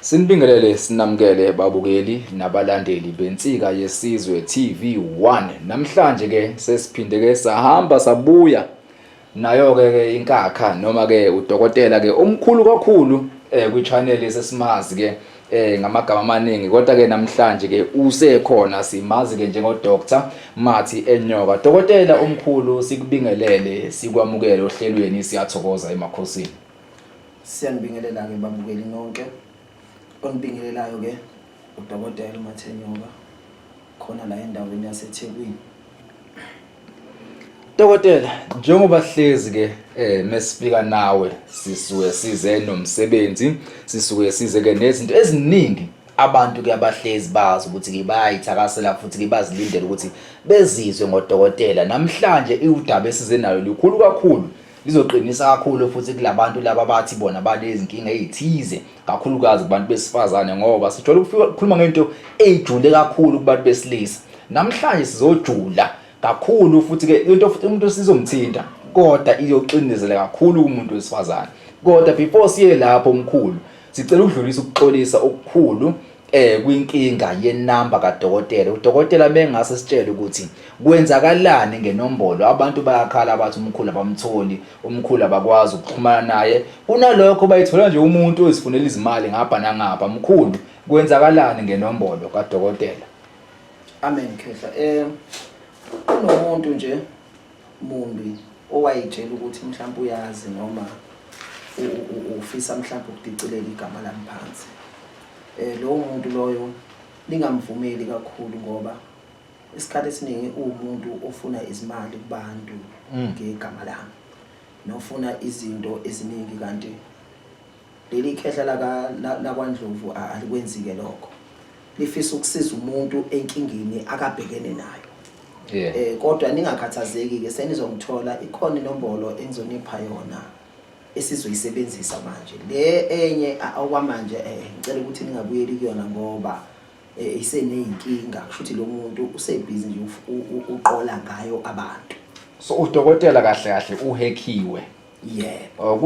Sinibingelele sinamukele babukeli nabalandeli beNsika Yesizwe TV1. Namhlanje ke sesiphinde ke sahamba sabuya nayo ke ke inkakha noma ke udokotela ke omkhulu kakhulu eh kwi channel esesimazi ke eh ngamagama amaningi kodwa ke namhlanje ke usekhona simazi ke njengo Dr Mathi Enyoka dokotela omkhulu sikubingelele sikwamukele ohlelweni siyathokoza emakhosini Siyanibingelela-ke babukeli nonke. Onibingelelayo-ke uDokotela uMathenyoka khona la endaweni yaseThekwini. Dokotela, njengoba hlezi ke eh mesifika nawe sisuke size nomsebenzi, sisuke size ke nezinto eziningi abantu ke abahlezi bazi ukuthi ke bayayithakasela futhi ke bazilindele ukuthi bezizwe ngodokotela. Namhlanje iwudaba esize nalo likhulu kakhulu Lizoqinisa kakhulu futhi kulabantu laba abathi bona banezinkinga ezithize kakhulukazi kubantu besifazane ngoba sijwayele ukukhuluma ngento ejule kakhulu kubantu besilisa. Namhlanje sizojula kakhulu futhi ke into futhi umuntu sizomthinta kodwa iyoxindezela kakhulu kumuntu wesifazane. Kodwa before siye lapho omkhulu sicela ukudlulisa ukuxolisa okukhulu eh kwinkinga yenamba kadokotela udokotela bengase sitshele ukuthi kwenzakalani ngenombolo abantu bayakhala abathi umkhulu abamtholi umkhulu abakwazi ukuxhumana naye kunalokho bayithola nje umuntu ozifunela izimali ngapha nangapha mkhulu kwenzakalani ngenombolo kadokotela amen khehla eh kunomuntu nje mumbi owayitshela ukuthi mhlawumbe uyazi noma ufisa mhlawumbe ukudicilela igama lami phansi um lowo muntu loyo ningamvumeli kakhulu ngoba isikhathi esiningi uwumuntu ofuna izimali kubantu mm. ngegama lami nofuna izinto eziningi kanti Leli khehla laka lakwaNdlovu alikwenzike lokho. Lifisa ukusiza umuntu enkingeni akabhekene nayo. Yeah. Eh kodwa ningakhathazeki ke senizomthola ikhona inombolo engizonipha yona esizoyisebenzisa manje. Le enye okwamanje eh ngicela ukuthi ningabuyeli kuyona ngoba eh, iseneyinkinga kusho ukuthi lo muntu usebhizi nje uqola ngayo abantu. So udokotela kahle kahle uhekhiwe. yebo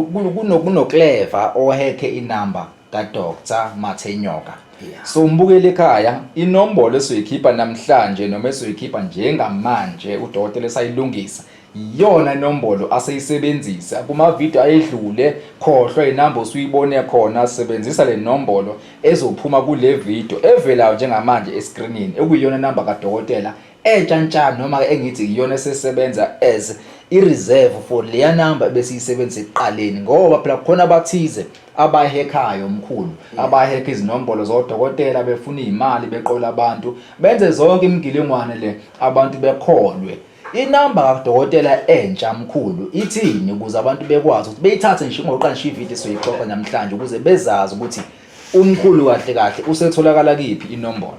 kunokleva ohekhe inamba kadr mathenyoka so umbukele ekhaya inombolo esoyikhipha namhlanje noma esoyikhipha njengamanje udokotela esayilungisa iyona inombolo aseyisebenzisa kumavidiyo ayedlule khohlwa inamba osuyibone khona sebenzisa le nombolo ezophuma kule vidiyo evelayo njengamanje eskrinini ekuyiyona namba kadokotela entsha ntsha noma ke engithi iyona esesebenza as i-reserve for leya number ebesiyisebenzisa ekuqaleni ngoba phela khona abathize abahekhayo mkhulu abahekha izinombolo zodokotela befuna izimali beqola abantu benze zonke imigilingwane le abantu bekholwe inamba kadokotela entsha mkhulu ithini ukuze abantu bekwazi ukuthi beyithathe nje ngoba qalisha ivideo soyixoxa namhlanje ukuze bezazi ukuthi umkhulu kahle kahle usetholakala kiphi inombolo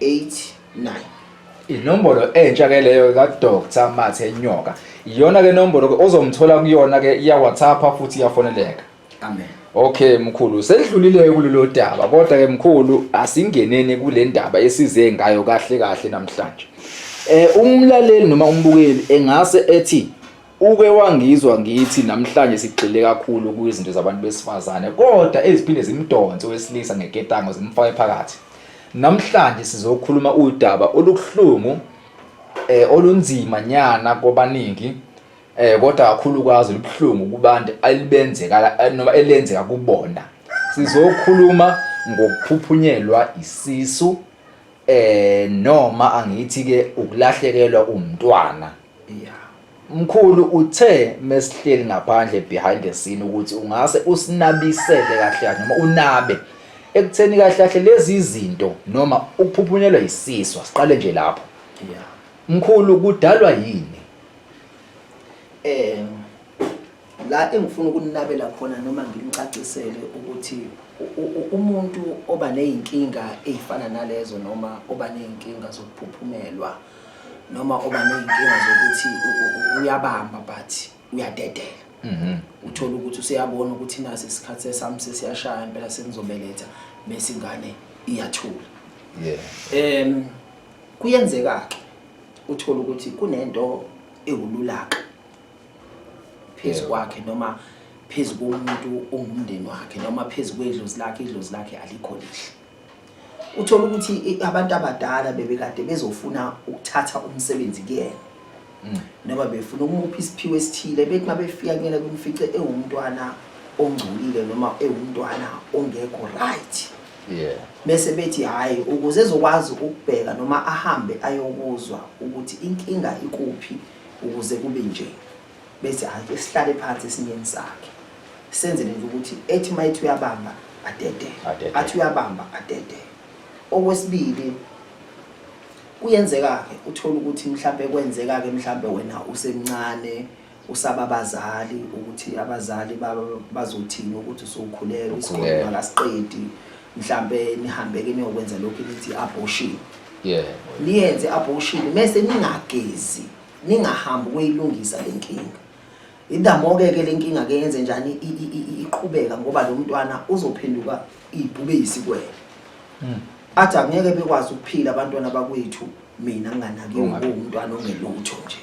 89 inombolo entsha ke leyo ka Dr Mathe Nyoka iyona ke nombolo ke ozomthola kuyona ke iya WhatsApp futhi iyafoneleka amen okay mkhulu sedlulile kulelo daba kodwa ke mkhulu asingeneni kule ndaba esize ngayo kahle kahle namhlanje eh umlaleli noma umbukeli engase ethi Uke wangizwa ngithi namhlanje sigxile kakhulu kwizinto zabantu besifazane kodwa eziphinde zimdonse wesilisa ngeketango zimfake phakathi. Namhlanje sizokhuluma udaba olukuhlungu eh olunzima nyana kwabaningi eh kodwa kakhulukazi libuhlungu kubantu alibenzeka eh, noma elenzeka kubona. Sizokhuluma ngokuphuphunyelwa isisu eh noma angithi ke ukulahlekelwa umntwana. Yeah. Mkhulu uthe mesihleli ngaphandle behind the scene ukuthi ungase usinabisele kahle kahle noma unabe ekutheni kahle kahle lezi izinto noma ukuphuphunyelwa isiswa siqale nje lapho yeah mkhulu kudalwa yini eh la engifuna ukunabela khona noma ngimcacisele ukuthi umuntu oba nezinkinga ezifana nalezo noma oba nezinkinga zokuphuphumelwa noma oba ney'nkinga zokuthi uyabamba but uyadedela mhm. uthole ukuthi useyabona ukuthi nasi isikhathi sesami sesiyashaya impela sengizobeletha bese ingane iyathula um kuyenzeka-ke uthole ukuthi kunento ewululaka phezu kwakhe noma phezu komuntu ongumndeni wakhe noma phezu kwedlozi lakhe idlozi lakhe alikho lihle uthola ukuthi abantu abadala bebekade bezofuna ukuthatha umsebenzi kuyena mm. noma befuna ukumupha isiphiwo esithile bethi uma befika kuyena kumfice ewumntwana ongcolile noma ewumntwana ongekho right bese bethi hhayi ukuze ezokwazi ukubheka noma ahambe ayokuzwa ukuthi inkinga ikuphi ukuze kube nje bethi hayi esihlale phansi esinyeni sakhe senzele nje ukuthi ethi uma ethi uyabamba adede Adede. athi uyabamba adede okwesibili kuyenzeka-ke uthole ukuthi mhlawumbe kwenzeka-ke mhlawumbe wena usemncane usaba abazali ukuthi abazali ba- bazothini ukuthi usukhulelwe isikole Ukhulelwe. makasiqedi mhlawumbe nihambe-ke niyokwenza lokhu elithi i-abortion yebo niyenze i-abortion mese ningagezi ningahambi ukuyilungisa le nkinga idamoke ke le nkinga ke yenze njani iqhubeka ngoba lo mntwana uzophenduka ibhube yisikwele hmm. athi angeke bekwazi ukuphila abantwana bakwethu mina nginganakiwe ngumntwana ongelutho nje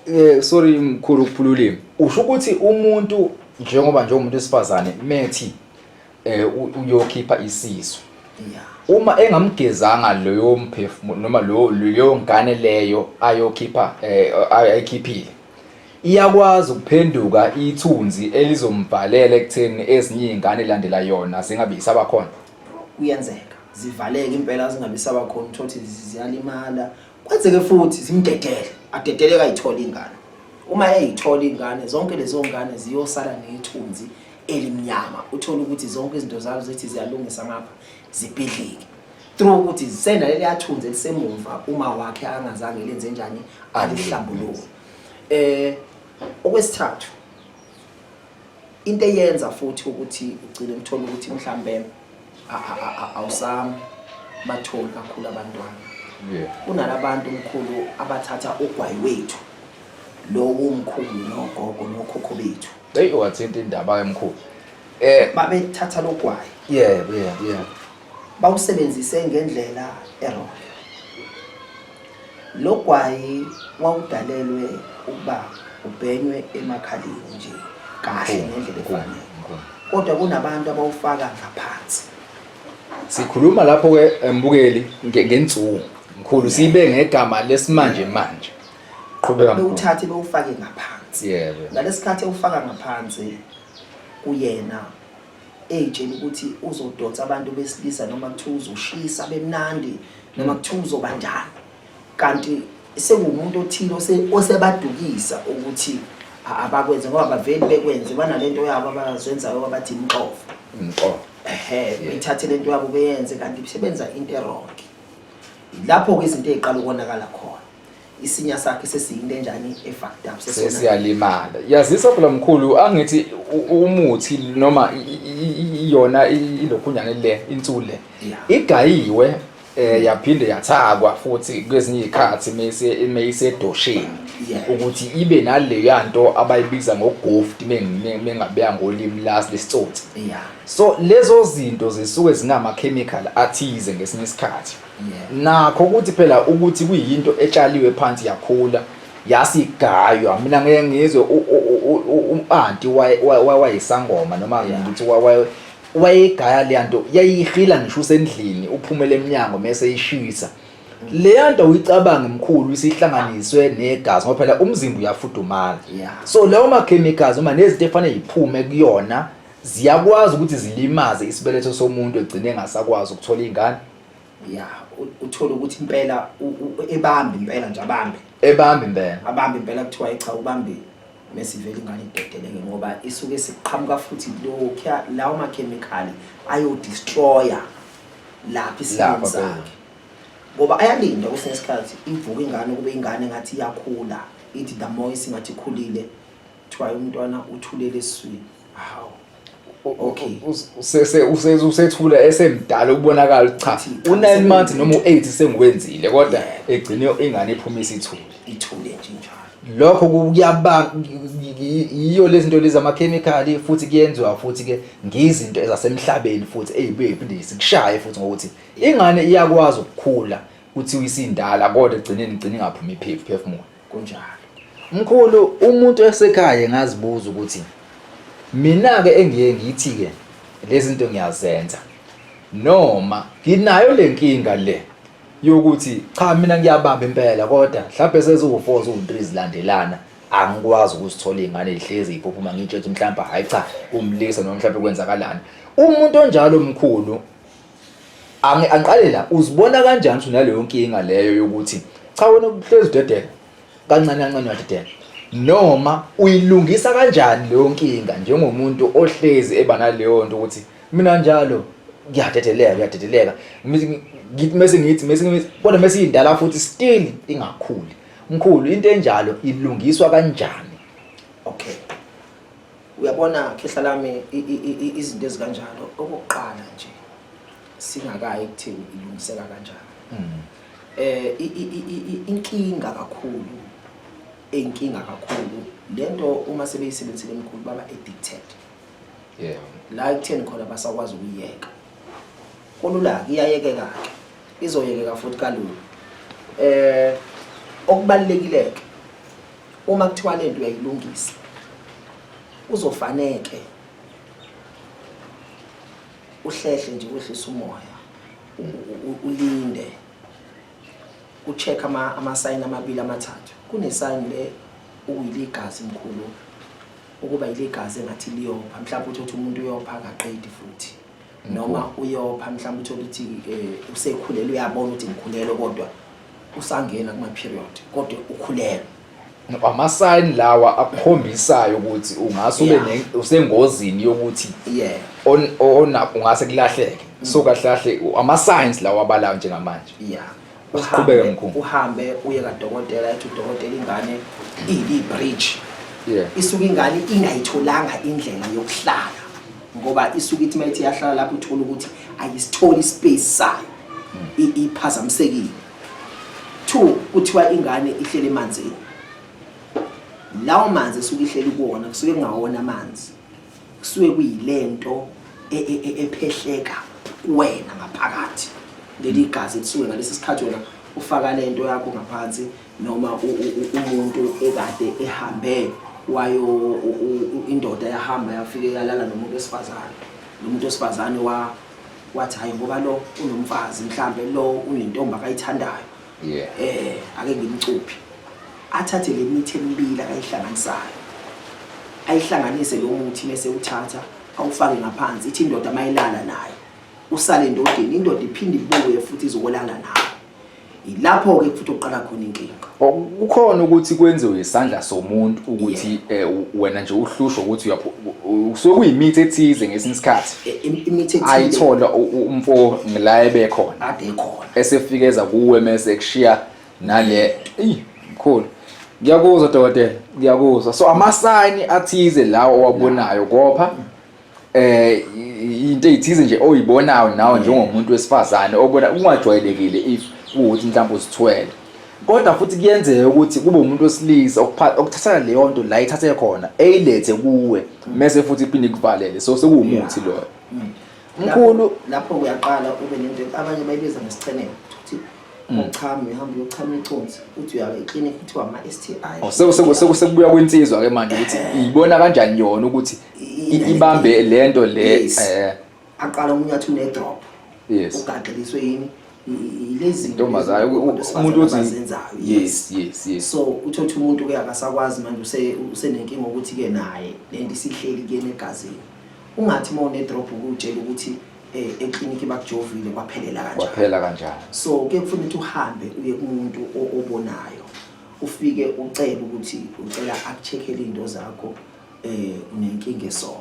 eh sorry mkhulu ukuphululima usho ukuthi umuntu njengoba njengomuntu wesifazane methi eh uyokhipha isisu uma engamgezanga loyo mphefumulo noma lo leyo ngane leyo ayokhipha eh, ayikhiphile iyakwazi ukuphenduka ithunzi elizombhalela ekutheni ezinye izingane landela yona zingabe isabakhona kuyenzeka zivaleke impela zingabe isabakhona uthothi ziyalimala kwenzeke futhi zimdedele adedeleka ayithola ingane uma eyithola ingane zonke lezo ngane ziyosala nethunzi elimnyama uthole ukuthi zonke izinto zalo zithi ziyalungisa ngapha zibhidlike through ukuthi zisena leliyathunzi elisemumva uma wakhe angazange lenze njani alihlambuluke eh okwesithathu into eyenza futhi ukuthi ugcine ngithola ukuthi mhlambe awusami batholi kakhulu abantwana kunalabantu mkhulu abathatha ugwayi wethu lowo mkhulu nogogo nokhokho bethu Hey wathinta indaba ke mkhulu. Eh babethatha logwayi. Yebo yebo yebo. Bawusebenzise ngendlela error. Logwayi wawudalelwe ukuba ubhenywe emakhaleni nje kahle ngendlela efanele. Kodwa kunabantu abawufaka ngaphansi. Sikhuluma lapho ke mbukeli ngensuku. Mkhulu sibe ngegama lesimanje manje. qhubeka bewuthathe bewufake ngaphansi yebo ngalesikhathi ewufaka ngaphansi kuyena eyitshela ukuthi uzodonsa abantu besilisa noma kuthiwa uzoshisa bemnandi noma kuthiwa uzoba njani kanti sekuwumuntu othile osebadukisa ukuthi abakwenze ngoba baveli bekwenze banalento yabo abazenzayo abathi imxovo imxovo ehe ithathe lento yabo beyenze kanti sebenza into eronke lapho-ke izinto ey'qala ukonakala khona isinya sakhe sesiyinto enjani efucked up sesona sesiyalimala yazisa phela mkhulu angithi u- u- umuthi noma i- i- i- iyona i- ilokhunyane le insule Yeah. igayiwe eh yaphinde yathakwa futhi kwezinye izikhathi mase meyisedosheni Yeah. ukuthi ibe naleya nto abayibiza ngogoft mengabeya ngolimi lasi lesitsotsi yeah so lezo zinto zisuke zinama chemical athize ngesinye isikhathi nakho ukuthi phela ukuthi kuyinto etshaliwe phansi yakhula yasigaywa mina ngeke ngizwe umpanti wayesangoma noma ngithi wayegaya leya nto yayihila ngisho usendlini uphumele emnyango mese ishisa leya nto uyicabange mkhulu isihlanganiswe negazi ngoba phela umzimba uyafudumala so lawo ma-chemicals uma nezinto efanele yiphume kuyona ziyakwazi ukuthi zilimaze isibeletho somuntu egcine engasakwazi ukuthola iy'ngane ya uthole ukuthi impela ebambe impela nje abambe ebambe impela abambe impela kuthiwa cha ubambile mesivele ingane idedeleke ngoba isuke siqhamuka futhi lokhu lawo makhemikhali ayodestroya lapha isimo sakhe ngoba ayalinda kwesinye isikhathi ivuka ingane kube ingane ngathi iyakhula ithi the more isingathi ikhulile kuthiwa umntwana uthulele eswini hawu okay usese usese usethula esemdala ukubonakala cha u9 months noma u8 sengiwenzile kodwa egcine ingane iphuma isithule ithule nje njalo lokho kuyaba yiyo lezi zinto lezi amakhemikhali futhi kuyenziwa futhi ke ngizinto ezasemhlabeni futhi eyibuye iphinde sikushaye futhi ngokuthi ingane iyakwazi ukukhula kuthi uyisindala kodwa egcineni igcine ingaphumi iphephu phefumulo kunjalo mkhulu umuntu esekhaya ngazibuza ukuthi mina ke engiye ngithi ke lezi zinto ngiyazenza noma nginayo lenkinga le yokuthi cha mina ngiyabamba impela kodwa mhlawumbe seziwu4 ziwu3 zilandelana angikwazi ukusithola ingane ihlezi iphuphuma ngitshe ukuthi mhlawumbe hayi cha umlisa noma mhlawumbe kwenzakalani umuntu onjalo mkhulu Angi angiqale la uzibona kanjani ukuthi unaleyo nkinga leyo yokuthi cha wena uhlezi udedela kancane kancane uyadedela noma uyilungisa kanjani leyo nkinga njengomuntu ohlezi eba naleyo nto ukuthi mina njalo ngiyadedeleka ngiyadedeleka Ngithi- ngithi mese ngithi mese ngithi kodwa mese iyindala futhi still ingakhuli mkhulu into enjalo ilungiswa kanjani Okay. uyabona khehla lami izinto ezikanjalo okokuqala nje singakayi kuthini ilungiseka kanjani mm. eh inkinga kakhulu inkinga kakhulu lento uma sebeyisebenzisile emkhulu baba addicted yeah la ekutheni khona basakwazi ukuyeka Kulula-ke iyayekeka-ke izoyekeka futhi kalula eh okubalulekileke uma kuthiwa le nto uyayilungisa uzofaneke uhlehle nje wehlisa umoya ulinde ucheck ama ama sign amabili amathathu kune sign le ukuyiligazi mkhulu ukuba ilegazi engathi liyopha mhlawumbe uthi uthi umuntu uyopha akaqedi futhi noma uyopha mhlawumbe uthole ukuthi um usekhulele uyabona ukuthi ngikhulelwe kodwa usangena kuma-period kodwa ukhulelwe amasayini lawa akhombisayo ukuthi ungase ube usengozini yokuthi yeah ungase kulahleke so kahle kahle ama-science lawa abalayo njengamanje yeah usiqhubeke mkhulu uhambe uye kadokotela ethi udokotela ingane iyi bridge yeah isuke ingane ingayitholanga indlela yokuhlala ngoba isuke ithi mayithi yahlala lapho uthola ukuthi ayisitholi space sayo hmm. iphazamisekile two kuthiwa ingane ihlele emanzini lawo manzi esuke ihleli kuwona kusuke kungawona amanzi kusuke kuyilento e, e, e, ephehleka kuwena ngaphakathi leli gazi elisuke ngalesi sikhathi wena ufaka lento yakho ngaphansi noma umuntu ekade ehambe wayo indoda yahamba yafike yalala nomuntu wesifazane nomuntu wesifazane wa wathi hayi ngoba lo unomfazi mhlambe lo unentombi akayithandayo yeah eh ake ngimcuphi athathe le mithi emibili akayihlanganisayo ayihlanganise lo muthi bese uthatha awufake ngaphansi ithi indoda mayilala naye usale endodeni indoda iphinde ibuye futhi izokolala naye ilapho ke futhi oqala khona inkinga kukhona ukuthi kwenziwe isandla somuntu ukuthi eh, wena nje uhlushwa ukuthi usuke kuyimithi ethize ngesinye isikhathi e, imithi ethize ayithola umfo ngila ebekhona ade khona esefikeza kuwe mese ekushiya nale eyi mkhulu ngiyakuzwa dokotela ngiyakuzwa so amasayini athize lawo owabonayo kopha eh i- into eyithize nje oyibonayo nawe njengomuntu wesifazane obona kungajwayelekile if ukuthi mhlawumbe uzithwele kodwa futhi kuyenzeka ukuthi kube umuntu wesilisa okupha- okuthatha leyo nto la ithathe khona eyilethe kuwe mese futhi iphinde ikuvalele so sekuwumuthi loyo mkhulu lapho uyaqala ube nento abanye bayibiza ngesicheneko ukuthi mm. uchama uhamba uyochama iconsi uthi uya eclinic uthi wama STI oh, sekubuya kwensizwa ke manje ukuthi ibona kanjani yona ukuthi ibambe lento le eh. aqala umuntu athi une drop yes ugaxeliswe yini lezi ntombazana umuntu othi yes yes yes so uthothi umuntu ke akasakwazi manje usenenkinga ukuthi ke naye lento isihleli kuyena egazini Ungathi uma une drop ukutshela ukuthi eh, eklinikhi bakujovile kwaphelela kanjani. Kwaphela kanjani? So kuye kufanele ukuthi uhambe uye kumuntu o- obonayo. Ufike ucele ukuthi ucela akucheckele into zakho eh unenkinga so.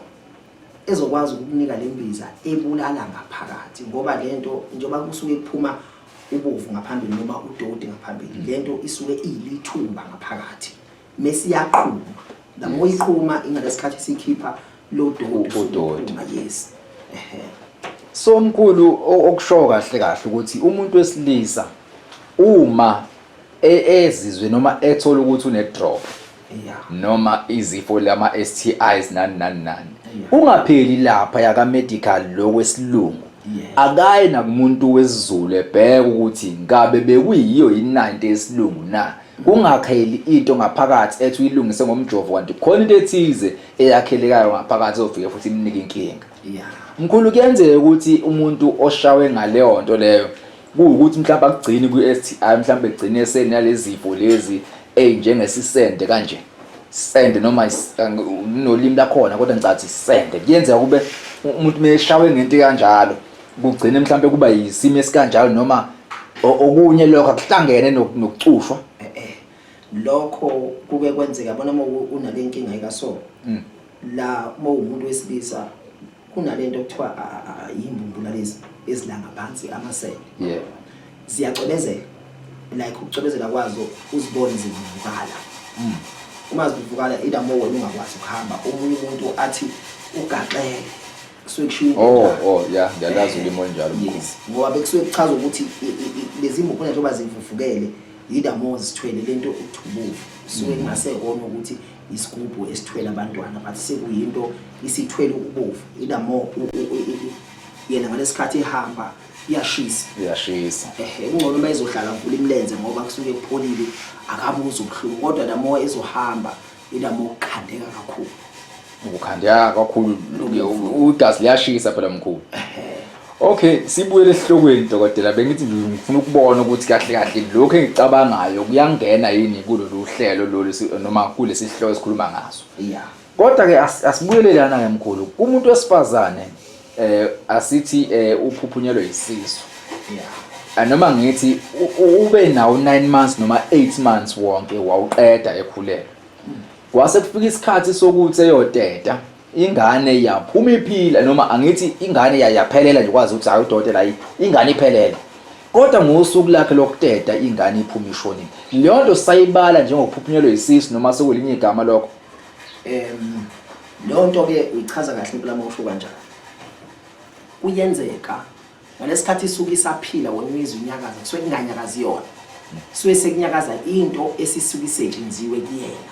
Ezokwazi ukukunika lembiza ebulala ngaphakathi ngoba lento njengoba kusuke kuphuma ubovu ngaphambili noma udoti ngaphambili lento isuke iyilithuba ngaphakathi. mesiyaqhuma the more iqhuma ingalesikhathi sikhipha lo doti yes ehe so mkhulu okusho kahle kahle ukuthi umuntu wesilisa uma e-, ezizwe noma ethola ukuthi une drop noma izifo lama STIs nani nani nani ungapheli lapha yaka medical lo wesilungu akaye nakumuntu wesizulu ebheke ukuthi ngabe bekuyiyo yini 90 yesilungu na Kungakheli into ngaphakathi ethi uyilungise ngomjovo kanti khona into ethize eyakhelekayo ngaphakathi ezofike futhi imnike inkinga. Mkhulu kuyenzeka ukuthi umuntu oshawe ngaleyo nto leyo kuwukuthi mhlawumbe akugcini kwi-STI mhlawumbe egcine esenalezifo lezi ezinjengesisende kanje. Sende noma nolimi lakhona kodwa ngicathi sende. Kuyenzeka kube umuntu meshawe ngento kanjalo kugcine mhlambe kuba yisimo esikanjalo noma o- okunye lokho akuhlangene nok- nokucushwa Eh, eh. lokho kuke kwenzeka bona uma u- unale nkinga ikaso Mm. la uma uwumuntu wesilisa kunalento okuthiwa a- a- a- yimbumbula lezi ezilanga phansi amasele yeah ziyacwebezela like ukucwebezela kwazo uzibone zivuvukala Mm. uma zivuvukala ida mo wena ungakwazi ukuhamba omunye umuntu athi ugaxele kusuke kushiwo oh oh yeah ngiyalazi ulimi olunjalo yes ngoba bekusuke kuchaza ukuthi lezi mbuphuna njengoba zimfufukele yidamo zithwele lento ukuthubuka suke mm. ngase kona ukuthi isigubhu esithwele abantwana but sekuyinto isithwele ukubovu idamo yena ngalesikhathi ehamba iyashisa iyashisa ehe kungcono uma izohlala mvula imlenze ngoba kusuke kupholile akabuza ubuhlungu kodwa namoya ezohamba Ilama ukukhandeka kakhulu. Ukukhandeka kakhulu ugazi liyashisa phela mkhulu. Okay, sibuyele esihlokweni dokotela bengithi nje ngifuna ukubona ukuthi kahle kahle lokho engicabangayo kuyangena yini kulolu hlelo lolu noma kulesi sihloko esikhuluma ngaso. Yeah. Kodwa ke asibuyele lana ke mkhulu. Umuntu wesifazane eh asithi eh uphuphunyelwe isisu yeah noma ngithi ube nawo 9 months noma 8 months wonke wawuqeda ekhulelwe kwase kufika isikhathi sokuthi eyoteta ingane yaphuma iphila noma angithi ingane yayaphelela nje kwazi ukuthi hayi udokotela hayi ingane iphelele kodwa ngosuku lakhe lokuteta ingane iphuma ishonile leyo nto sayibala njengokuphunyelwa isisu noma sekulinye igama lokho um leyo nto ke uyichaza kahle impela uma usho kanjani kuyenzeka ngalesi khathi isuke isaphila wena uyizwa inyakaza kusuke kunganyakazi yona suke sekunyakaza into esisuke isetshenziwe kuyena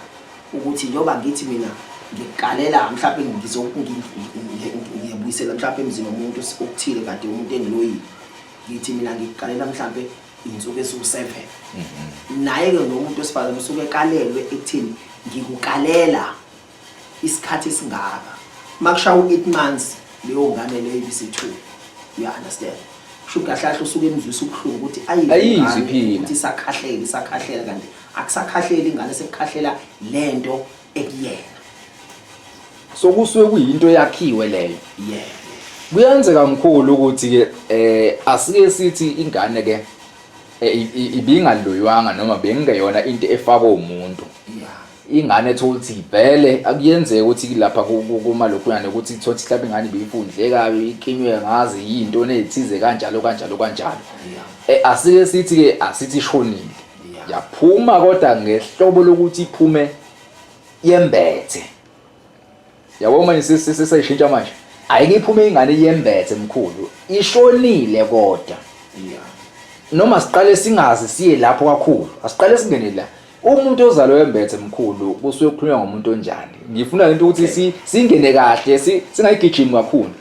ukuthi njengoba ngithi mina ngikukalela mhlawumbe ngizokungiyebuyisela mhlawumbe emzini womuntu okuthile kade umuntu engiloyile ngithi mina ngikuqalela mhlampe insuku esu7 mhm. naye ke ngomuntu wesifazane usuke ekalelwe ekuthini ngikukalela isikhathi esingaka makushaya u8 months leyo ngane leyo ibise2 you understand kusho kahlahla usuke emzwisa ubuhlungu ukuthi ayiziphi phila ukuthi sakhahlele sakhahlele kanti akusakhahleli ingane sekukhahlela lento ekuyena so kusuke kuyinto yakhiwe leyo yeah kuyenzeka mkhulu ukuthi ke eh asike sithi ingane ke eh, ibingaloywanga noma bengeyona into efakwa umuntu ingane ethola ukuthi ibhele akuyenzeka ukuthi lapha kuma lokhuyane ukuthi ithola ukuthi mhlawumbe ingane ibiyifundle kabi iklinywe ngazi yinto nethize kanjalo kanjalo kanjalo eh, asike sithi ke asithi ishonile yaphuma kodwa ngehlobo lokuthi iphume yembethe yabo manje sesisayishintsha manje ayike iphume ingane yembethe mkhulu ishonile kodwa noma siqale singazi siye lapho kakhulu asiqale singene la umuntu ozalwe wembethe mkhulu kusuke kukhulunywa ngomuntu onjani ngifuna lento ukuthi singene kahle singayigijimi kakhulu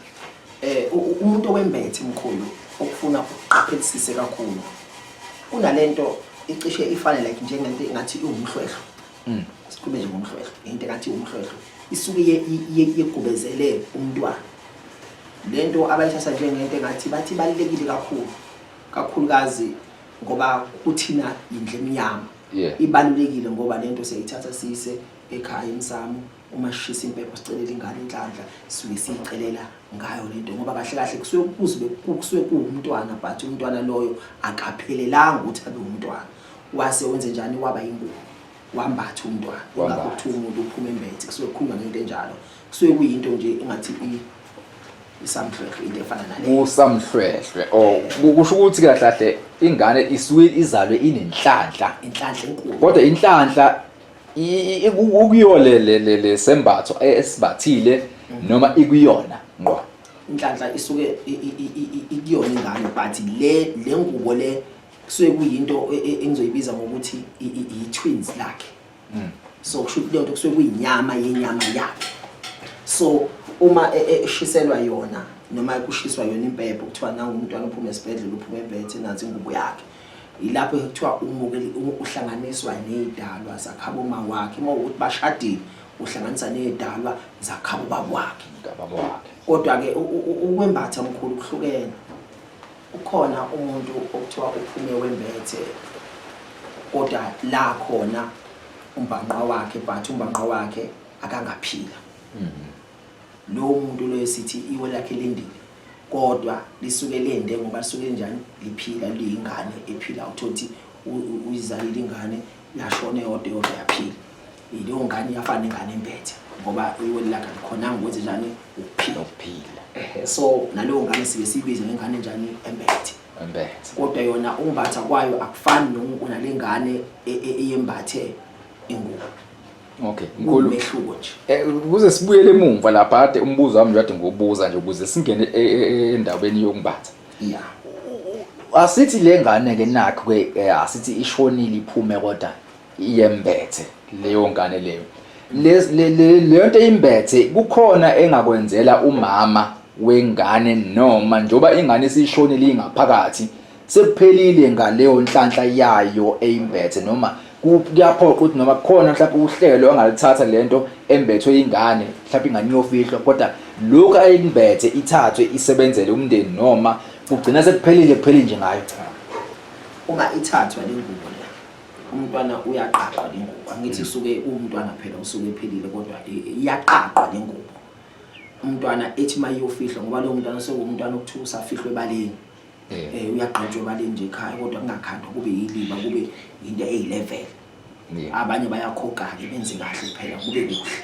Eh umuntu owembethe mkhulu okufuna uqaphelisise kakhulu. Kunalento icishe ifane like njengento ngathi iwumhlwehlo. Mm. Sikhulume nje ngomhlwehlo, into ngathi iwumhlwehlo. Isuke yegubezele umntwana. Lento abayithatha njengento ngathi bathi balekile kakhulu. Kakhulukazi ngoba kuthina indle emnyama. Yeah. Ibalulekile ngoba lento siyayithatha siyise ekhaya emsamo uma sishisa impepho sicelela ingane inhlanhla sisuke siyicelela ngayo lento ngoba kahle kahle kusuke kuze kusuke kuwumntwana but umntwana loyo akaphelelanga ukuthi abe umntwana wase wenze njani waba ingubo wambatha umntwana ingakho kuthiwa umuntu uphuma embethe kusuke kukhulunywa ngento enjalo kusuke kuyinto nje engathi isamhlwehlwe into efana naleyo usamhlwehlwe oh kusho ukuthi kahle kahle ingane isuke izalwe inenhlanhla inhlanhla enkulu kodwa inhlanhla ukuyo le le le le sembatho esibathile noma ikuyona ngqo inhlanhla isuke ikuyona ingane but le le ngubo le kusuke kuyinto e, e, engizoyibiza ngokuthi i-twins lakhe hmm. so kusho ukuthi lento kusuke kuyinyama yenyama yakhe so uma e, eshiselwa yona noma kushiswa yona impepho kuthiwa nangu umntwana uphuma esibhedlela uphuma ebethe nansi ingubo yakhe Yilapho kuthiwa umuke uhlanganiswa nezidalwa zakhabo mawakhe uma ukuthi bashadile uhlanganisa nezidalwa zakhabo babwakhe. Ngababo wakhe. Kodwa ke ukwembatha mkhulu kuhlukene. Ukhona umuntu okuthiwa uphume wembethe kodwa la khona umbhanqa wakhe but umbhanqa wakhe akangaphila. Lo muntu lo esithi iwe lakhe lendile. kodwa lisuke lende ngoba lisuke linjani liphila liyingane ephila uthothi uyizalile ingane yashona eyodwa eyodwa yaphila yileyo ngane iyafana ingane empethe ngoba iweli lakhe alikhonanga ukuthi njani ukuphila ukuphila ehe so naleyo ngane sibe sibize ngengane njani empethe empethe kodwa yona umbatha kwayo akufani nalengane e, e, eyembathe ingubo Okay, mkhulu. Umehluko nje. Eh kuze sibuyele emumva lapha kade umbuzo wami kade ngobuza nje ukuze singene e, e, e, endaweni yokumbatha. Yeah. Asithi le ngane ke nakho ke eh, asithi ishonile iphume kodwa iyembethe leyo ngane leyo. Le le leyo nto imbethe kukhona engakwenzela umama wengane noma njoba ingane isishonile ingaphakathi sekuphelile ngaleyo nhlanhla yayo eyimbethe noma kuyaphoqa ukuthi noma kukhona mhlawumbe uhlelo angalithatha le nto embethwe ingane mhlawumbe ingane iyofihlwa kodwa lokhu ayimbethe ithathwe isebenzele umndeni noma kugcina sekuphelile kuphele nje ngayo uma ithathwa le ngubo le umntwana uyaqaqwa le ngubo angithi usuke umntwana phela usuke ephelile kodwa iyaqaqwa le ngubo umntwana ethi uma iyofihlwa ngoba lowo mntwana sekuwumntwana okuthiwa usafihlwe ebaleni Eh. eh uyagqitshwa imali nje ekhaya kodwa kungakhandwa kube yiliba kube into eyilevel abanye bayakhokha-ke benze kahle kuphela kube kuhle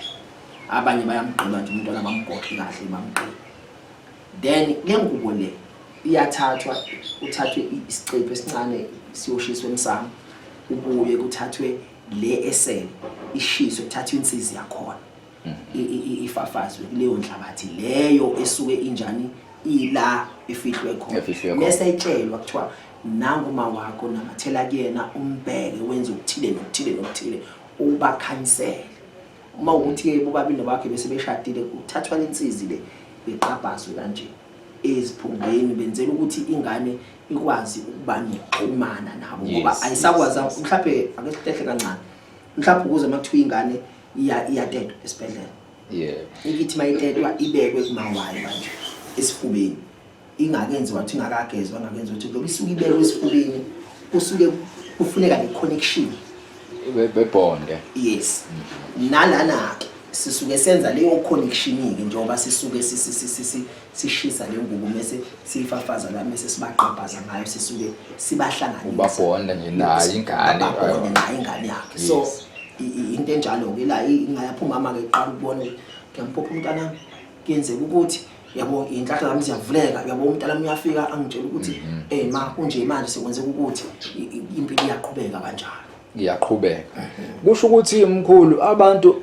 abanye bayamgqina nje umntwana bamgoqe kahle bamgqina then le ngubo le iyathathwa uthathwe isicephu esincane siyoshiswa emsamo ubuye kuthathwe le esele ishiswe kuthathwe insizi yakhona ifafazwe kuleyo nhlabathi leyo esuke injani ila efihlwe khona bese itshelwa kuthiwa nangu uma wakho namathela kuyena umbheke wenze ukuthile nokuthile nokuthile ubakhanyisele uma ukuthi yebo babili nobakhe bese beshadile kuthathwa lensizi le iqabhazwe kanje eziphungeni benzela ukuthi ingane ikwazi ukuba nokuxhumana nabo ngoba ayisakwazi mhlawumbe ake sihlehle kancane mhlawumbe ukuze makuthiwa ingane iya iyatetwa esibhedlela yeah ikithi mayitetwa ibekwe kumawayo manje esifubeni ingakenzi wathi ingakagezwa ngakenzi ukuthi lokho isuke ibekwe esifubeni kusuke kufuneka le connection Be- bebonde yes nalana ke sisuke senza leyo connection ke njengoba sisuke si- si- si- si- si- sishisa le ngubo mese siyifafaza la mese sibaqabhaza ngayo sisuke sibahlanganisa ubabhonda nje naye ingane ubabhonda naye ingane yakhe so into enjalo ke la ingayaphuma ama ke qala ukubona ngiyampopha umntana kuyenzeka ukuthi yabo inhlahla zami ziyavuleka yabo umntana uyafika angitshela ukuthi mhm. eh ma kunje manje sekwenzeka ukuthi impilo iyaqhubeka kanjalo iyaqhubeka mhm. kusho ukuthi umkhulu abantu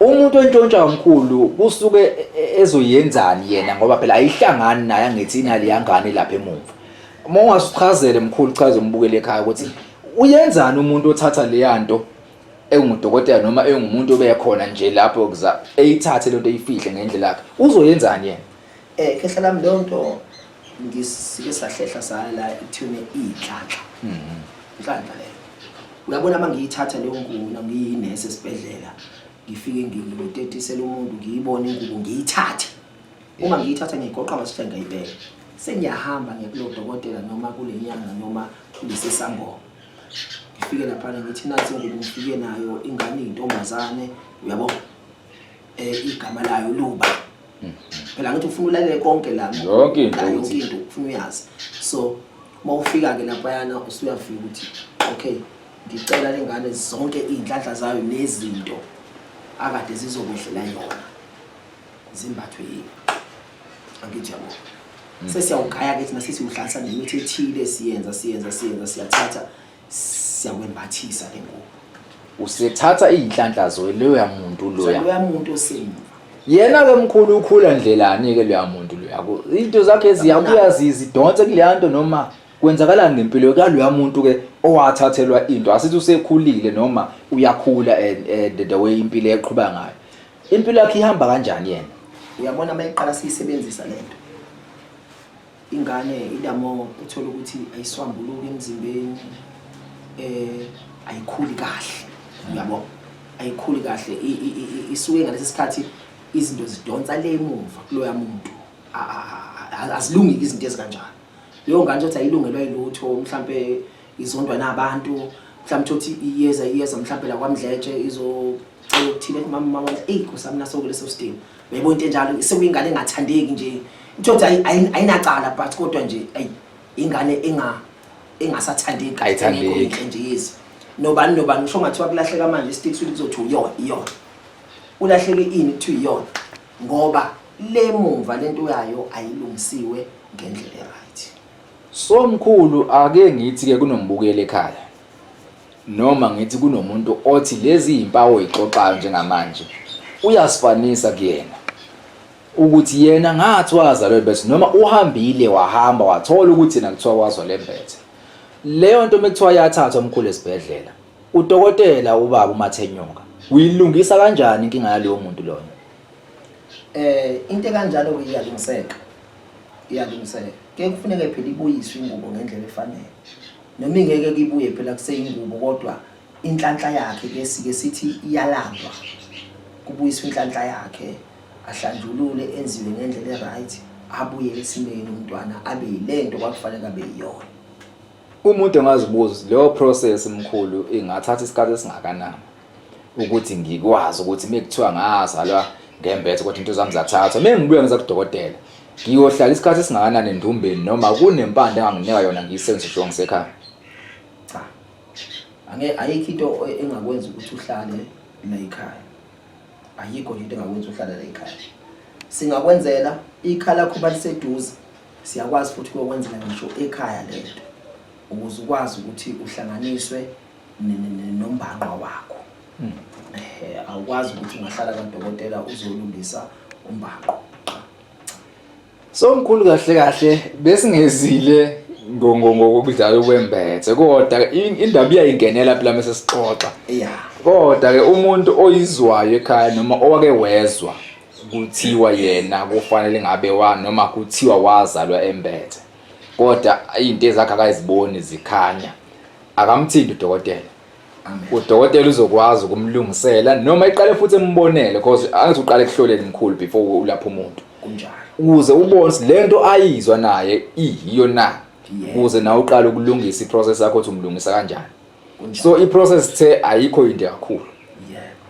umuntu ontshontsha umkhulu kusuke e- e- ezoyenzani yena ngoba phela ayihlangani naye angithi inali yangane lapha emuva uma ungasichazele mkhulu chaze umbukele ekhaya ukuthi uyenzani umuntu othatha leya nto engudokotela noma engumuntu obekhona nje lapho kuza eyithathe lento eyifihle ngendlela yakhe uzoyenzani yena Eh khehla lami leyo nto ngisike sahlehla saya la ithune iy'nhlanhla mhm. inhlanhla leyo uyabona uma ngiyithatha leyo nkuna ngiyinesi esibhedlela ngifike ngitetisele umuntu ngiyibone ingubo ngiyithathe uma ngiyithatha ngiyigoqa ngasihle ngayibeka sengiyahamba ngekulo dokotela noma kule nyanga noma kulesi sangoma ngifike laphana ngithi nansi ingubo ngifike nayo ingane iyintombazane uyabo eh, igama layo luba mhm. phela ngithi ufuna ulalele konke la yonke into yonke into ufuna uyazi so uma ufika ke lapha yana usuyafika ukuthi okay ngicela lengane zonke izinhlanhla zayo nezinto akade zizokwehlela yona zimbathwe yini angithi yabo mm. sesiyawugaya ke thina sesiwuhlansa nemithi ethile siyenza siyenza siyenza siyathatha siyakwembathisa ke ngoku usethatha iy'nhlanhla zoye loya muntu loya loya muntu osemuva yena-ke mkhulu ukhula ndlelani-ke loya muntu loya iy'nto zakhe ziyabuya zidonse kuleya nto noma kwenzakalani ngempilo kaloya muntu-ke owathathelwa into asithi usekhulile noma uyakhula and the way impilo eqhuba ngayo impilo yakhe ihamba kanjani yena uyabona uma iqala siyisebenzisa le nto Ingane idamo uthole ukuthi ayiswambuluki emzimbeni eh ayikhuli kahle. Uyabo? Ayikhuli kahle isuke ngalesi sikhathi izinto zidonsa le emuva kuloya muntu. Azilungile izinto ezikanjalo. Leyo ngane uthi ayilungelwa yilutho mhlambe izondwa nabantu mhlawumbe thothi iyeza iyeza mhlawumbe la kwamdletshe izocela ukuthile kumama mama wena eyi kusami nasoko leso sidingo uyayibona into enjalo sekuyingane engathandeki nje thothi ayinacala but kodwa nje ayi ingane enga engasathandeki ayithandeki nje yezi nobani nobani usho ngathiwa kulahleka manje isitiki suthi kuzothi uyona iyona ulahleke ini kuthiwa iyona ngoba le mumva lento yayo ayilungisiwe ngendlela So mkhulu ake ngithi ke kunombukeli ekhaya noma ngithi kunomuntu othi lezi impawu oyixoxayo njengamanje uyasifanisa kuyena ukuthi yena ngathi wazalwe lembethe noma uhambile wahamba wathola ukuthi yena kuthiwa wazwa lembethe leyo nto mekuthiwa yathathwa umkhulu esibhedlela udokotela ubaba umathenyonga uyilungisa kanjani inkinga yalowo muntu loyo eh into kanjalo iyalungiseka iyalungiseka ke kufuneke phela ibuyiswe ingubo ngendlela efanele noma ingeke kibuye phela kuseyingubo kodwa inhlanhla yakhe ke sike sithi iyalandwa kubuyiswa inhlanhla yakhe ahlanjulule enziwe ngendlela e-right abuye esimeni umntwana abe yilento kwakufanele abe yiyona Umuntu engazibuza leyo process mkhulu ingathatha isikhathi esingakanani ukuthi ngikwazi ukuthi mekuthiwa ngazalwa ngembethe ukuthi into zami zathathwa mina ngibuya ngiza kudokotela ngiyohlala isikhathi esingakanani endumbeni noma kunempande enganginika yona ngiyisenze sho ngisekhaya cha ange ayikho into engakwenza ukuthi uhlale la ekhaya ayikho into engakwenza uhlale la ekhaya singakwenzela ikhala khuba liseduze Siyakwazi futhi kuyokwenzeka ngisho ekhaya le nto ukuze ukwazi ukuthi uhlanganiswe nombangqwa wakho hmm. ehe awukwazi ukuthi ungahlala kadokotela uzolungisa umbangqo so mkhulu kahle kahle besingezile ngokudlala kwembethe kodwa indaba iyayingenela phela mase sixoxa kodwa ke umuntu oyizwayo ekhaya noma owake wezwa kuthiwa yena kufanele ngabe wa noma kuthiwa wazalwa embethe kodwa into ezakhe akaziboni zikhanya akamthindi udokotela udokotela uzokwazi ukumlungisela noma iqale futhi embonele because angithi uqale kuhloleni mkhulu before ulapha umuntu kunjalo ukuze ubone lento ayizwa naye iyiyo na ukuze nawe uqale ukulungisa iprocess yakho ukuthi umlungisa kanjani kunjalo so i process the ayikho into kakhulu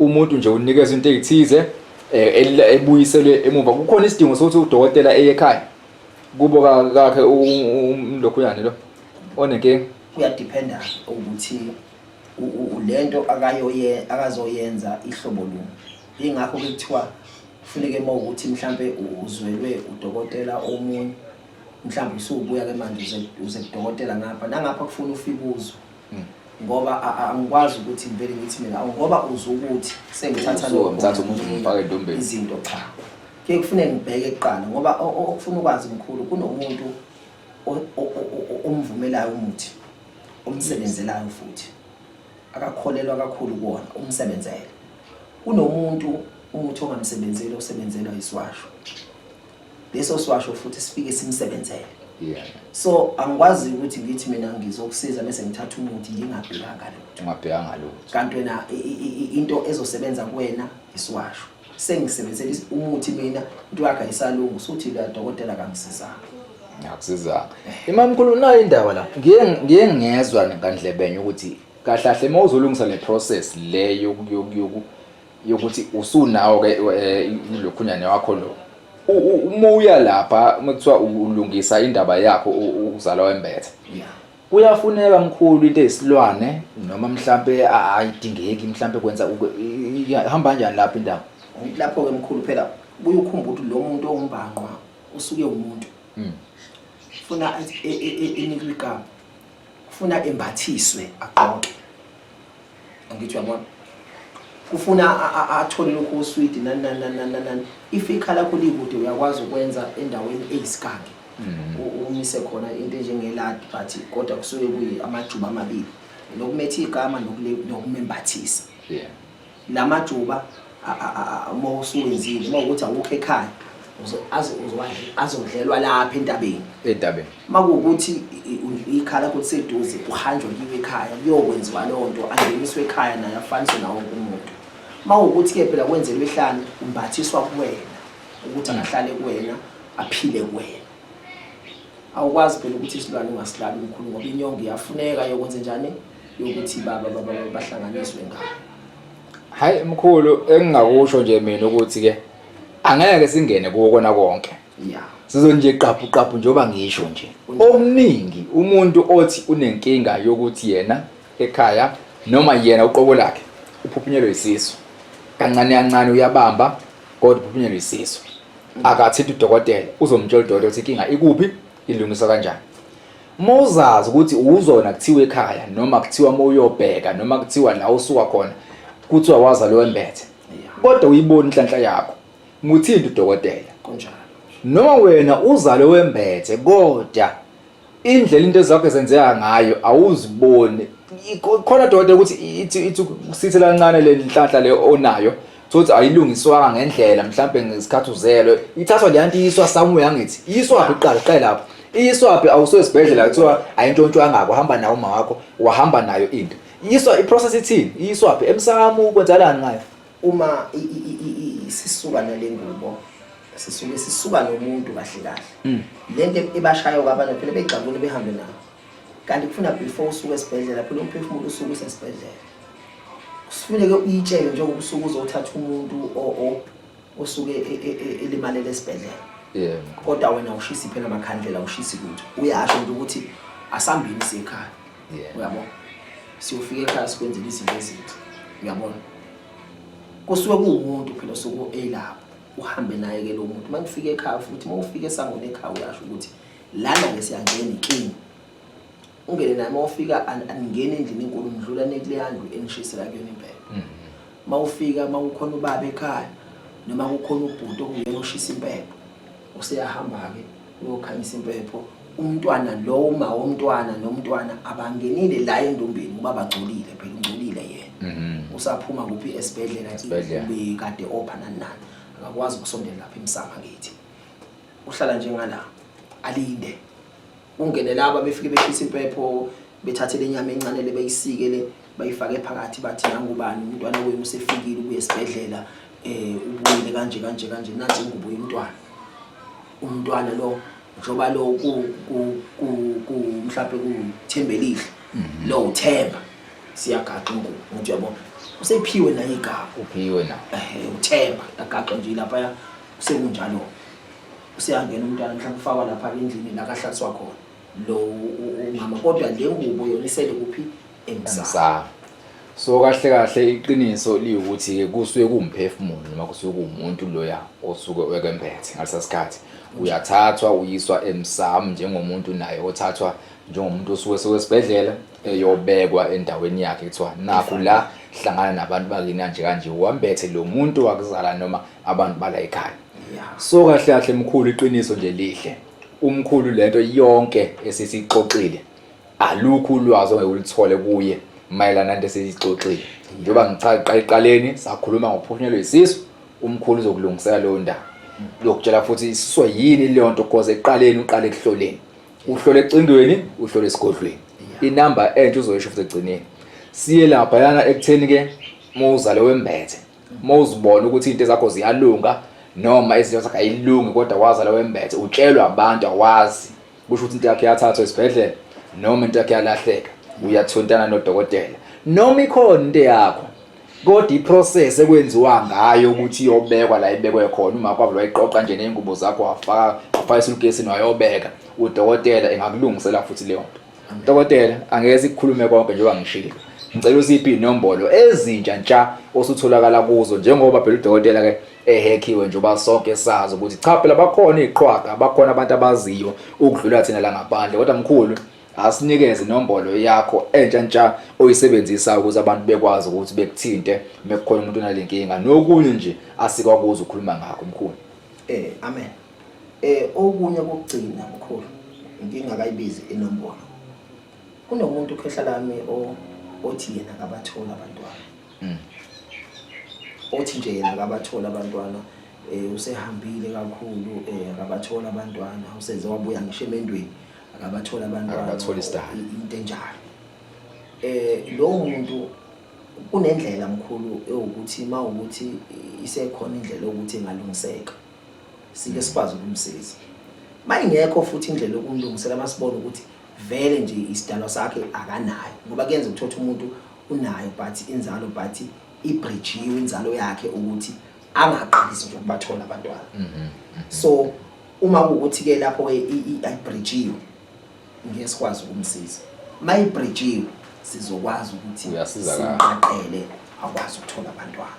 umuntu nje unikeza into ezithize eh, ebuyiselwe emuva kukhona isidingo sokuthi udokotela eye ekhaya kubo kakhe umlokhunyane lo onenkinga kuyadependa ukuthi lento akayoye akazoyenza ihlobo luni ingakho kuthiwa kufuneke uma ukuthi mhlambe uzwelwe udokotela omunye mhlawumbe usubuya ke manje uze uze kudokotela ngapha nangapha kufuna ufike uzwe Mm. ngoba a- a- angikwazi ukuthi ngivele ngithi mina awu ngoba uzwe ukuthi sengithatha So, lokhu, ngithatha umuntu ngimfake entombeni. izinto cha ke kufuneka ngibheke kuqala ngoba o- o- okufuna ukwazi mkhulu kunomuntu o- o- o- o- o- omvumelayo umuthi omsebenzelayo futhi akakholelwa kakhulu kuwona umsebenzele kunomuntu umuthi ongamsebenzeli osebenzelwa isiwasho leso siwasho futhi sifike simsebenzele yeah so angikwazi ukuthi ngithi mina ngizokusiza bese ngithatha umuthi ngingabhekanga lutho ungabhekanga lutho kanti wena into ezosebenza kuwena isiwasho sengisebenzela umuthi mina into yakhe ayisalungu suthi la dokotela kangisizanga ngiyakusizanga imamkhulu nayo indaba la ngiye ngiye ngezwa ngandlebenye ukuthi kahle kahle mawuzolungisa le process le yoku yokuthi usunawo ke eh, lokhunyane wakho lo uma uya lapha uma kuthiwa ulungisa indaba yakho ukuzala wembethe kuyafuneka mkhulu into eyisilwane noma mhlampe ayidingeki mhlampe kwenza ihamba kanjani lapho indawo lapho ke mkhulu phela buye ukhumbuke ukuthi lo muntu owumbhanqwa usuke umuntu hmm. funa enikwe e, e, igama kufuna embathiswe agqoke angithi uyabona kufuna athole lokho oswidi nani nani nani nani if ikhala lakho likude uyakwazi ukwenza endaweni eyisikange mm-hmm. umise khona into enjengeladi but kodwa kusuke kuyi amajuba amabili nokumetha igama nokumembathisa yeah Lamajuba uma usuwenzile uma ukuthi awukho ekhaya azodlelwa lapha entabeni entabeni uma kuwukuthi ikhala lakho liseduze uhanjwa kiwe ekhaya kuyokwenziwa loo nto angeniswe ekhaya naye afaniswe nawo wonke umuntu uma kuwukuthi-ke phela kwenzelwe ihlane umbathiswa kuwena ukuthi angahlale kuwena aphile kuwena awukwazi phela ukuthi isilwane ungasilali umkhulu ngoba inyongo iyafuneka yokwenze njani yokuthi baba baba bahlanganiswe ngabo hayi mkhulu engingakusho nje mina ukuthi ke angeke singene kuwo kona konke yeah sizonje qaphu qaphu njengoba ngisho nje okuningi umuntu othi unenkinga yokuthi yena ekhaya noma yena uqobo lakhe uphuphunyelwe isisu kancane kancane uyabamba kodwa uphuphunyelwe isisu akathi udokotela uzomtshela udokotela ukuthi inkinga ikuphi ilungiswa kanjani Uma uzazi ukuthi uzona kuthiwa ekhaya noma kuthiwa uma uyobheka noma kuthiwa la usuka khona kuthiwa waza lowembethe kodwa uyibona inhlanhla yakho muthinte udokotela kunjalo noma wena uzale wembethe kodwa indlela into zakho zenzeka ngayo awuziboni khona dokotela ukuthi ithi ithi kusithe lancane lenhlanhla le onayo thothi ayilungiswanga ngendlela mhlawumbe ngesikhathi uzelwe ithathwa le nto iyiswa somewhere angithi iyiswaphi kuqala qale lapho iyiswaphi awusuke esibhedlela kuthiwa ayintshontshwangako hamba nawo uma wakho wahamba nayo into iyiswa iprocess ithini iyiswaphi emsamo kwenzakalani ngayo uma sisuka nale ngubo sisuke sisuka nomuntu kahle kahle hmm. le nto ebashayo kwabanye phela begxabule behambe nayo kanti kufuna before usuke esibhedlela phela umphefumulo usuke usesibhedlela kusufuneke uyitshele njengoba usuke uzothatha umuntu osuke e, e, e, elimalele esibhedlela kodwa wena ushisi phela amakhandlela ushisi lutho uyasho nje ukuthi asambini sekhaya uyabo siyofika ekhaya sikwenzela izinto ezinhle uyabona kusuke kuwumuntu phela osuke elapho uhambe naye ke lo muntu uma kufika ekhaya futhi uma ufika esangweni ekhaya uyasho ukuthi lana ke siyangena king ungene nami ofika angena endlini enkulu ngidlula nekuleyandlu engishisela kuyona impela mhm. mawufika mawukhona ubaba ekhaya noma kukhona ubhuti okuyena oshisa impepho useyahamba ke uyokhanyisa impepho umntwana lo uma womntwana nomntwana abangenile la endombeni ngoba bagcolile phela ungcolile yena mhm. usaphuma kuphi esibhedlela ikade opha nanani akakwazi ukusondela lapha emsama kithi uhlala njengala alinde ungene laba befike beshisa impepho bethathe lenyama encane le beyisike le bayifake phakathi bathi nangubani umntwana wenu usefikile ubuye esibhedlela eh ubuyile kanje kanje kanje nathi ngubuye umntwana umntwana lo njoba lo ku ku ku ku mhlawumbe kuthembelihle mhm. lo uthemba siyagaqa ingubo ngithi yabo usephiwe naye igama uphiwe na eh uthemba agaqa nje lapha Sekunjalo useyangena umntwana mhlawumbe ufakwa lapha endlini la kahlatswa khona lo u- u- umama kodwa le ngubo yona isele kuphi emsamo Sa. So kahle kahle iqiniso liwukuthi ke kusuke kuwumphefumulo noma kusuke kuwumuntu loya osuke wekemphethe ngalesasikhathi uyathathwa uyiswa emsam njengomuntu naye othathwa njengomuntu osuke sewesibhedlela eyobekwa endaweni yakhe kuthiwa nakho la hlangana nabantu bakini kanje kanje wambethe lo muntu wakuzala noma abantu bala ekhaya so kahle kahle mkhulu iqiniso nje lihle umkhulu lento yonke esisixoxile alukho ulwazi ongeke ulithole kuye mayelana nento esiyixoxile njengoba ngiqaqaleni sakhuluma ngophunyelwe isisu umkhulu uzokulungisela leyo ndaba lokutshela futhi isiswe yini leyo nto because eqaleni uqale ekuhloleni uhlole ecingweni uhlole esigodlweni inamba entsha uzoyisho futhi egcineni siye lapha yana ekutheni ke muzale wembethe uma uzibona ukuthi into zakho ziyalunga noma izinto zakhe ayilungi kodwa waza la wembethe utshelwa abantu awazi kusho ukuthi into yakhe yathathwa esibhedlela noma into yakhe yalahleka uyathontana nodokotela noma ikhona into yakho kodwa iprocess ekwenziwa ngayo ukuthi iyobekwa la ibekwe khona uma kwavula wayiqoqa nje nezingubo zakho wafaka wafaka isulukesi nayobeka udokotela engakulungisela futhi leyo nto Dokotela, angeke sikukhulume konke njengoba ngishilo. Ngicela usiphi inombolo ezintsha ntsha osutholakala kuzo njengoba phela udokotela ke ehekhiwe njengoba sonke sazi ukuthi cha phela bakhona iqhwaga, bakhona abantu abaziyo ukudlula thina la ngaphandle. Kodwa mkhulu, asinikeze inombolo yakho entsha ntsha oyisebenzisa ukuze abantu bekwazi ukuthi bekuthinte mekukhona umuntu onalenkinga. Nokunye nje asikwakuza ukukhuluma ngakho mkhulu. Eh, amen. Eh okunye kokugcina mkhulu inkinga kayibizi inombolo. Kunomuntu khehla lami o othi yena akabathola abantwana. Mm. Othi nje yena akabathola abantwana eh usehambile kakhulu eh akabathola abantwana useze wabuya ngisho emendweni akabathola abantwana. Akabathola isidala. Into enjalo. Eh lo muntu kunendlela mkhulu ewukuthi mawukuthi isekhona indlela ukuthi engalungiseka. sike sikwazi ukumsiza mayingekho futhi indlela yokumlungisela masibona ukuthi vele nje isidalwa sakhe akanayo ngoba kuyenza ukuthatha umuntu unayo but inzalo but ibridgiwe inzalo yakhe ukuthi angaqalisi nje ukubathola abantwana mhm, mhm. so uma ukuthi ke lapho ke ibridgiwe ngeke sikwazi ukumsiza mayibridgiwe sizokwazi ukuthi uyasizakala siqaqele akwazi ukuthola abantwana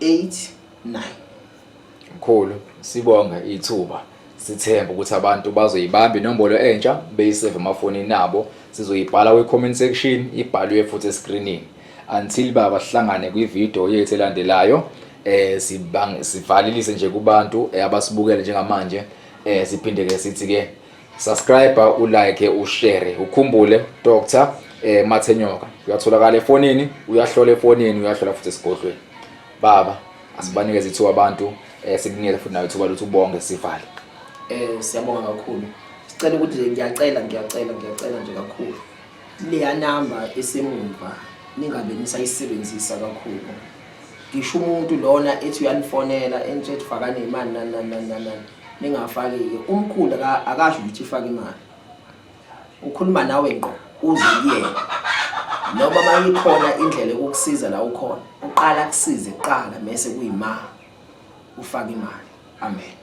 8 9 Mkhulu sibonga ithuba sithemba ukuthi abantu bazoyibamba inombolo entsha beyisave emafonini abo sizoyibhala kwi-comment section ibhalwe futhi escreenini until baba sihlangane kwividiyo yethu elandelayo eh sivalelise nje kubantu eh, abasibukele njengamanje eh siphinde ke sithi ke subscribe ulike ushare ukhumbule doctor eh mathenyoka uyatholakala efonini uyahlola efonini uyahlola futhi esigodlweni baba asibanikeze ithuba abantu eh sikunike futhi nayo ithuba lokuthi ubonge sivale eh siyabonga kakhulu sicela ukuthi ngiyacela ngiyacela ngiyacela nje kakhulu leya number esemumva ningabe nisayisebenzisa kakhulu ngisho umuntu lona ethi uyanifonela entshethi fakane imali nani nani nani ningafaki-ke umkhulu akasho ukuthi ifake imali ukhuluma nawe ngqo uze kuyena noma uma ikhona indlela yokukusiza la ukhona uqala kusize kuqala mese kuyima ufake imali amen